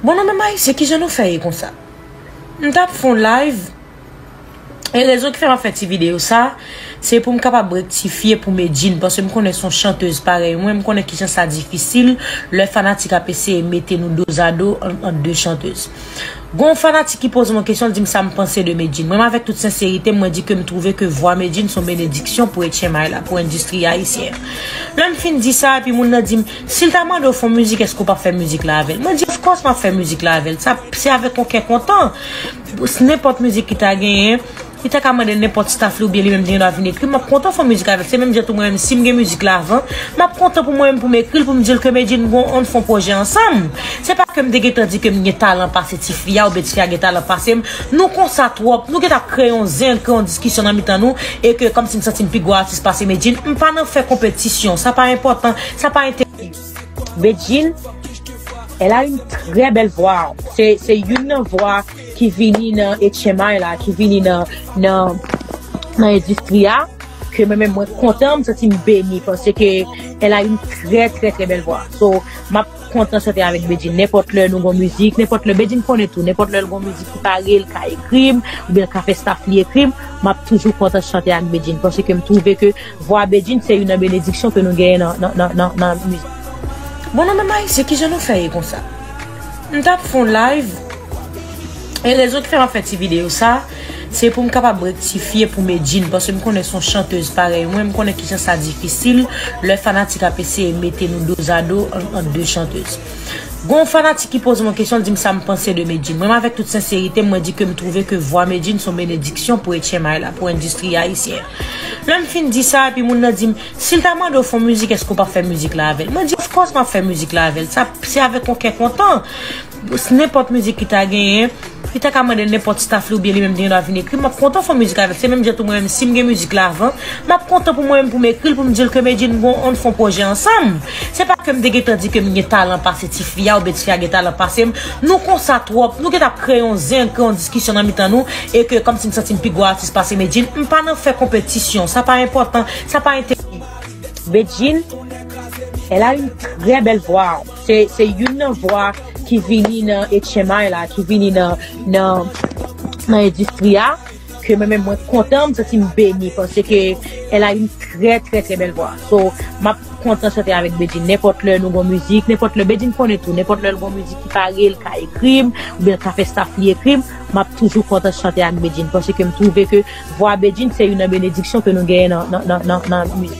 Bon nou menm ayisyen kijan nou fè ye konsa m tap fè yon live e rezon ki fè map fè ti video sa se poum kapab rektifye pou Medjine paske m konnen son chanteuse parèy mwen m konnen kijan sa difisil lè fanatik ap eseye mete nou dozado ant de chanteuse gon fanatik ki pozem yon kesyon l dim sam panse de Medjine mwen avèk tout senserite m mwen di kem twouve ke vwa Medjine son benediksyon pou etchenmay la pou endistri ayisyen an lèm fin di sa epi moun nan dim. Si l ta mande w fè yon mizik èske w pap fè mizik la avè l? Mwen di of course map fè mizik la avè l. Sa se avèk yon kè kontan. Nenpòt mizik ki ta genyen, li ta ka mande nenpòt staff li oubyen li menm li te gendwa vin ekri, map kontan fè yon mizik avè l. Se menm jan tou mwen menm si m gen mizik la avan, map kontan pou mwen menm pou m ekri l pou m di l ke Medjine m gen ann fè yon pwojè ansanm. Se pa ke m te gentan di ke m gen talan pase ti fi a oubyen ti fi a gen talan pase m. Nou konsa twòp, nou gentan ap kreye yon zen, kreye yon diskisyon nan mitan nou e ke kòmsi m santi m pi gwo atis pase Medjine. M pa nan fè konpetisyon, sa pa enpòtan. Sa pa entèdi. Bedjine, elle a une très belle voix. Se, se youn nan vwa ki vini nan etchenmay la, ki vini nan, nan, nan endistri a, ke mwen menm mwen kontan, m santi m beni, paske elle a une très, très, très belle voix. So, m ap kontan chante avèk Bedjine. Nenpòt lè nou gon mizik, nenpòt lè, Bedjine konnen tou, nenpòt lè l gon mizik ki pare, l ka ekri m, oubyen l ka fè staff li ekri m, m ap toujou kontan chante ak Bedjine, paske m twouve ke. Vwa Bedjine se youn nan benediksyon ke nou genyen nan mizik. Bon nou menm ayisyen kijan nou fè ye konsa m tap fon live e rezon ki fè map fè ti video sa se poum kapab rektifye pou medjine paske m konnen son chanteuse parèy mwen m konnen kijan sa difisil lè fanatik ap eseye mete nou dozado ant de chanteuse gon fanatik ki poze mwen kesyon l dim sam panse de medjine mwen avèk tout senserite mwen di kem trouve ke vwa medjine son benediksyon pou etchemay la pou endistri ayisyen Lè m fin di sa, epi moun nan di m, si l ta mande w fè yon mizik èske w p ap fè mizik la avè l? Mwen di, of course m ap fè mizik la avè l, sa se avèk yon kè kontan. Nenpòt mizik ki ta genyen, li ta ka mande nenpòt staff li oubyen li menm li te gendwa vin ekri, m ap kontan fè yon mizik avè l. Se menm jan tou mwen menm si m gen mizik la avan, m ap kontan pou mwen menm pou m ekri l pou m di l ke Medjine bon ann fè yon pwojè ansanm. Se pa ke m te gentan di ke m gen talan pase ti fi a oubyen ti fi a gen talan pase m, Nou konsa twòp, nou gentan ap kreye yon zen, kreye yon diskisyon nan mitan nou e ke kòmsi m santi m pi gwo atis pase Medjine, m pa nan fè konpetisyon, sa pa enpòtan, sa pa enteresan. Bedjine elle a une très belle voix se youn nan vwa ki vini nan etchemay la ki vini nan endistri a. ke mwen menm mwen kontan m santi m beni paske ke elle a une trè trè trè bèl vwa so map kontan chante avèk Bedjine nenpòt lè nou gon mizik nenpòt lè Bedjine konnen tou nenpòt lè l gon mizik ki pare l ka ekri m oubyen l ka fè staff li ekri m map toujou kontan chante ak Bedjine paske m twouve ke vwa Bedjine se youn nan benediksyon ke nou genyen nan nan nan nan mizik.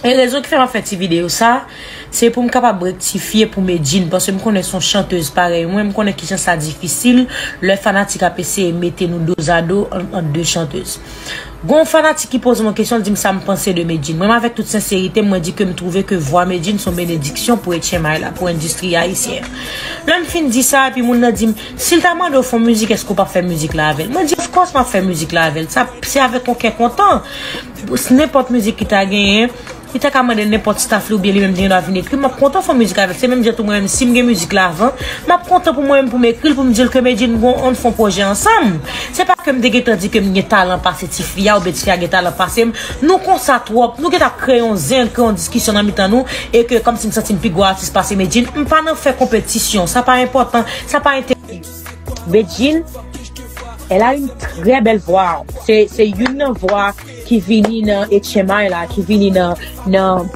E rezon ki fè map fè ti video sa, se poum kapab rektifye pou Medjine paske m konnen son chanteuse parèy mwen, m konnen kijan sa difisil lè fanatik ap eseye mete nou dozado ant 2 chanteuse. Gon fanatik ki poze m yon kesyon li di m sam panse de Medjine. Mwen avèk tout senserite m mwen di kem twouve ke vwa Medjine son benediksyon pou etchenmay la, pou endistri ayisyen an. Lèm fin di sa epi moun nan di m, sil ta mande w fon mizik eske w pap fè mizik la avèl? Mwen di of course map fè mizik la avèl, se avèk yon kè kontan. Pou nenpòt mizik ki ta genyen, li ta ka mande nenpòt staf li oubyen li menm li gen dwa vin ekri. M ap kontan fè yon mizik avè l. Se menm jan tou mwen menm si m gen mizik la avan, m ap kontan pou mwen menm pou m ekri l pou m di l ke Medjine bon ann fè yon pwojè ansanm. Se pa ke m te gen tan di ke m gen talan pase ti fi a oubyen ti fi a gen talan pase m. Nou konsa twòp. Nou gen tan ap kreye yon zen, kreye yon diskisyon nan mitan nou e ke kòmsi m santi m pi gwo atis pase Medjine. M pa nan fè konpetisyon. Sa pa enpòtan. Sa pa enterese m. Bedjine elle a une très belle voix se se youn nan vwa ki vini nan etchenmay la ki vini nan nan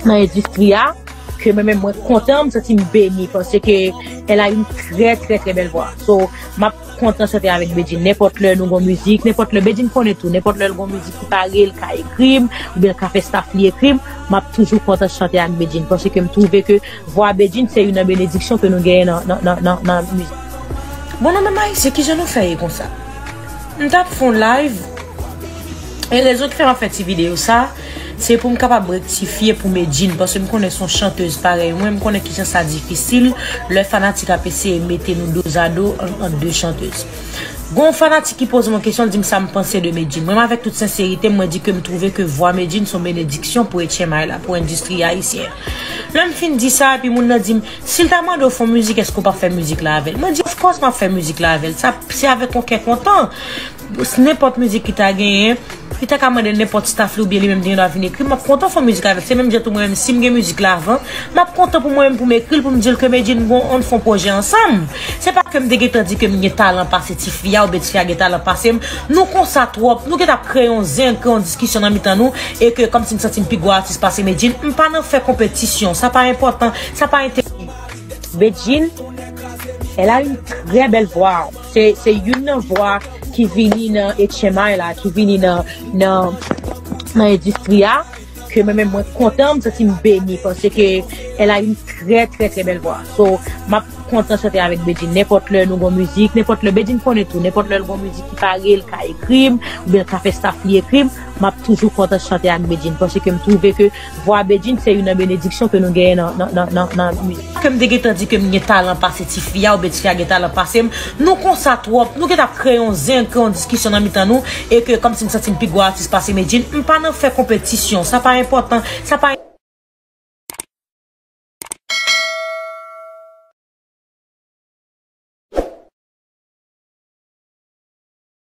nan endistri a ke mwen men mwen kontan m santi m beni pase ke elle a une très très très belle voix so map kontan chante avèk Bedjine nenpòt lè nou gon mizik nenpòt lè Bedjine konnen tou nenpòt lè l gon mizik ki pare l ka ekri m oubyen l ka fè staff li ekri m map toujou kontan chante ak Bedjine pase ke m twouve ke Vwa Bedjine se youn nan benediksyon ke nou genyen nan mizik. Bon nou menm ayisyen kijan nou fè ye konsa m tap fon live e rezon ki fè map fè ti video sa se poum kapab rektifye pou medjine paske m konnen son chantez parèy mwen m konnen kijan sa difisil lè fanatik ap eseye mete nou dozado ant de chantez gon fanatik ki poze mwen kesyon l dim sam panse de medjine mwen avèk tout senserite mwen di kem trouve ke vwa medjine son benediksyon pou etchenmay la pou endistri ayisyen Lè m fin di sa epi moun nan di m, si l ta mande w fè yon mizik èske w p ap fè mizik la avè l? Mwen di of course m ap fè mizik la avè l, sa se avèk yon kè kontan. Nenpòt mizik ki ta genyen, li ta ka mande nenpòt staff li oubyen li menm li gen dwa vin ekri, m ap kontan fè yon mizik avè l. Se menm jan tou mwen menm si m gen mizik la avan, m ap kontan pou mwen menm pou m ekri l pou m di l ke Medjine bon ann fè yon pwojè ansanm. Se pa ke m te gentan di ke m gen talan pase ti fi a oubyen ti fi a gen talan pase m. Nou konsa twòp, nou gentan ap kreye yon zen, kreye yon diskisyon nan mitan nou E ke kòmsi m santi m pi gwo atis pase Medjine, m pa nan fè konpetisyon, sa pa enpòtan, sa pa enteresan. Bedjine elle a une très belle voix se youn nan vwa ki vini nan etchenmay la ki vini nan nan endistri a ke mwen menm mwen kontan m santi m beni pase ke elle a une très très très belle voix so m ap kontan chante avèk Bedjine nenpòt lè nou gon mizik nenpòt lè Bedjine konnen tou nenpòt lè l gon mizik ki pare l ka ekri m oubyen l ka fè staff li ekri m. Map toujou kontan chante ak Bedjine paske m twouve ke vwa Bedjine se youn nan benediksyon ke nou genyen nan mizik. Ke m te gentan di ke m gen talan pase ti fi a oubyen ti fi a gen talan pase m, nou konsa twòp, nou gentan ap kreye yon zen, kreye yon diskisyon nan mitan nou e ke kòmsi m santi m pi gwo atis pase Bedjine, m pa nan fè konpetisyon, sa pa enpòtan, sa pa.